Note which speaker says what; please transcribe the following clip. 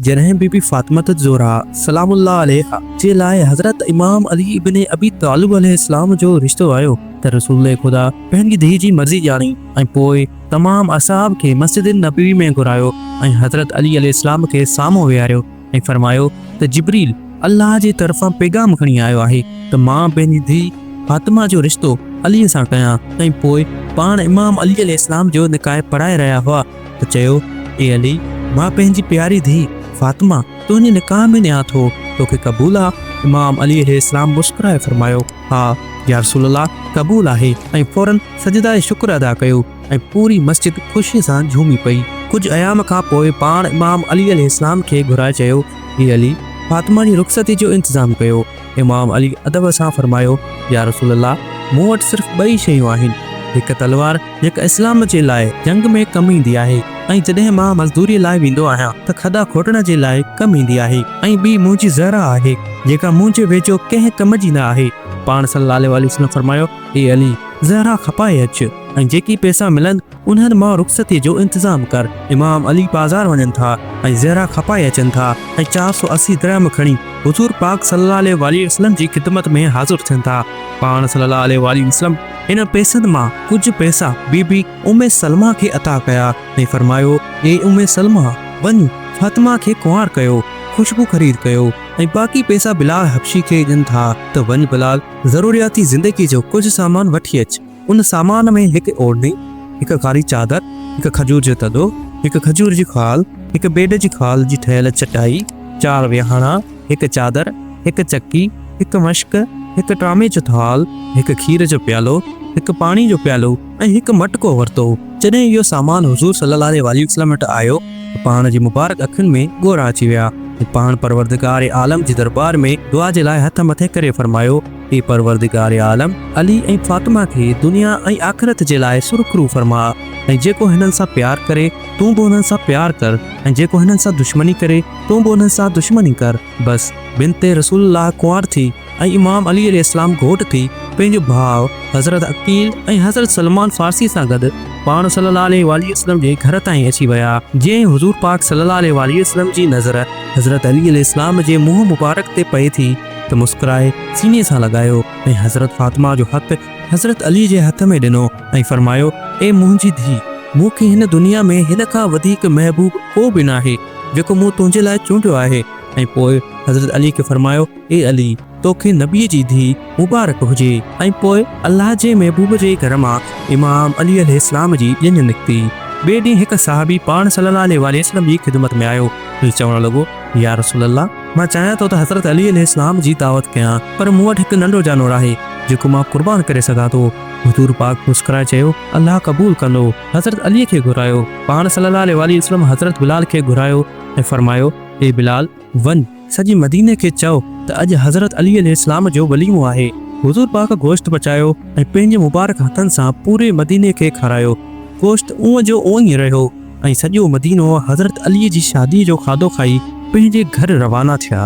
Speaker 1: جڏهن بي بي فاطمة الزهراء سلام الله عليها جي لاء حضرت امام علي ابن ابي طالب عليه السلام جو رشتو آيو ته رسول خدا پنهنجي ڌيء جي مرضي ڄاڻي ۽ پوء تمام اصحاب کي مسجد نبوي ۾ گهرايو ۽ حضرت علي عليه السلام کي سامهون ويهاريو ۽ فرمايو ته جبريل الله جي طرفان پيغام کڻي آيو آهي ته مان پنهنجي ڌيء فاطمة جو رشتو علي سان ڪيان ۽ پوء پاڻ امام علي عليه السلام جو نڪاح پڙهائي رهيا هئا. ته چيو، اي علي! مان پنهنجي پياري ڌيء فاطمه تنهنجي نڪاح ۾ ڏيان ٿو، توکي قبول آ؟ امام علي عليه السلام مسڪرائي فرمايو، ها يا رسول الله قبول آهي ۽ فوراً سجده شڪر ادا ڪيو ۽ پوري مسجد خوشي سان جهومي پئي. ڪجهه ايام کان پوء پاڻ امام علي عليه السلام کي گهرائي چيو، اي علي! فاطمه جي رخصتي جو انتظام ڪيو. امام علي ادب سان فرمايو، يا رسول الله! مون وٽ صرف ٻه ئي شيون آهن، هڪ تلوار جيڪا اسلام جي لاء جنگ ۾ ڪم ايندي آهي ۽ جڏهن مان مزدوريء لاء ويندو آهيان ته کڏا کوٽڻ جي لاء ڪم ايندي آهي ۽ ٻي منهنجي زهره آهي جيڪا منهنجي ويجهو ڪنهن ڪم جي نه آهي. پاڻ صلّي الله عليه وسلّم فرمايو، اي علي! زهره کپائي اچ ۽ جيڪي پئسا ملن انهن مان رخصتيء جو انتظام ڪر. امام علي بازار وڃن ٿا ۽ زهره کپائي اچن ٿا ۽ چار سؤ اسي درهم کڻي حضور پاڪ صلي الله عليه واٰله وسلم جي خدمت ۾ حاضر ٿين ٿا. پاڻ صلي الله عليه واٰله وسلم انهن پئسن مان ڪجهه پئسا بي بي ام سلمه کي عطا ڪيا ۽ فرمايو، اي ام سلمه! وڃ فاطمه کي ڪنوار ڪيو، خوشبو خريد ڪيو ۽ باقي پئسا بلال حبشي کي ڏين ٿا ته وڃ بلال ضرورياتي زندگيء جو ڪجهه سامان وٺي اچ. ان سامان ۾ هڪ اوڙني، هڪ ڪاري چادر، هڪ کجور جو تڏو، هڪ کجور جي خال، هڪ بيڊ جي خال جي ٺهيل چٽائي، چار ويهاڻا، هڪ چادر، هڪ چڪي، هڪ مشڪ، هڪ ٽرامي جو ٿال، هڪ کير جو پيالو، هڪ پاڻي جو پيالو ۽ هڪ مٽڪو ورتو. جڏهن اهو سامان حضور صلي الله عليه واٰله وسلم وٽ آيو ته پاڻ جي مبارڪ اکين ۾ ڳوڙها اچي ويا ۽ پاڻ پروردگار عالم جي درٻار ۾ دعا جي لاء هٿ مٿي ڪري فرمايو، اي پروردگار عالم! علي ۽ فاطمه کي دنيا ۽ آخرت جي لاء سرخرو فرماء ۽ جيڪو هنن سان پيار ڪري، تون به انهن سان پيار ڪر ۽ جيڪو هنن سان دشمني ڪري، تون به انهن سان دشمني ڪر. بس! بنت رسول الله ڪنوار ٿي ۽ امام علي عليه السلام گهوٽ ٿي پنهنجو ڀاء حضرت عقيل ۽ حضرت سلمان فارسيء سان گڏ پاڻ صلّي الله عليه واٰله وسلّم جي گهر تائين اچي ويا، جئين حضور پاڪ صلّي الله عليه واٰله وسلّم جي نظر حضرت علي عليه السلام جي منهن مبارڪ تي پئي ٿي، ته مسڪرائي سيني سان لڳايو ۽ حضرت فاطمه جو هٿ حضرت علي جي هٿ ۾ ڏنو ۽ فرمايو، اي منهنجي ڌيء! مون کي هن دنيا ۾ هن کان وڌيڪ محبوب ڪو به ناهي، جيڪو مون تنهنجي لاء چونڊيو آهي ۽ پوء حضرت علي کي فرمايو، اي علي! تو کي نبيء جي ڌيء مبارڪ هجي! ۽ پوء الله جي محبوب جي گهر مان امام علي عليه السلام جي ڄڃ نڪتي. ٻئي ڏينهن هڪ صحابي پاڻ صلّي الله عليه واٰله وسلّم جي خدمت ۾ آيو ۽ چوڻ لڳو، يا رسول الله! مان چاهيان ٿو ته حضرت علي عليه السلام جي دعوت ڪيان، پر مون وٽ هڪ ننڍو جانور آهي، جيڪو مان قربان ڪري سگهان ٿو. حضور پاڪ مسڪرائي چيو، الله قبول ڪندو. حضرت علي کي گهرايو. پاڻ صلّي الله عليه واٰله وسلّم حضرت بلال کي گهرايو ۽ فرمايو، اي بلال! وڃ، سڄي مديني کي چئو ته اڄ حضرت علي عليه السلام جو وليمو آهي. حضور پاڪ گوشت پچايو ۽ پنهنجي مبارڪ هٿن سان پوري مديني کي کارايو. گوشت اونء جو اونء ئي رهيو. ۽ سڄو مدينو حضرت علي جي شاديء جو کاڌو کائي پنهنجي گهر روانا ٿيا.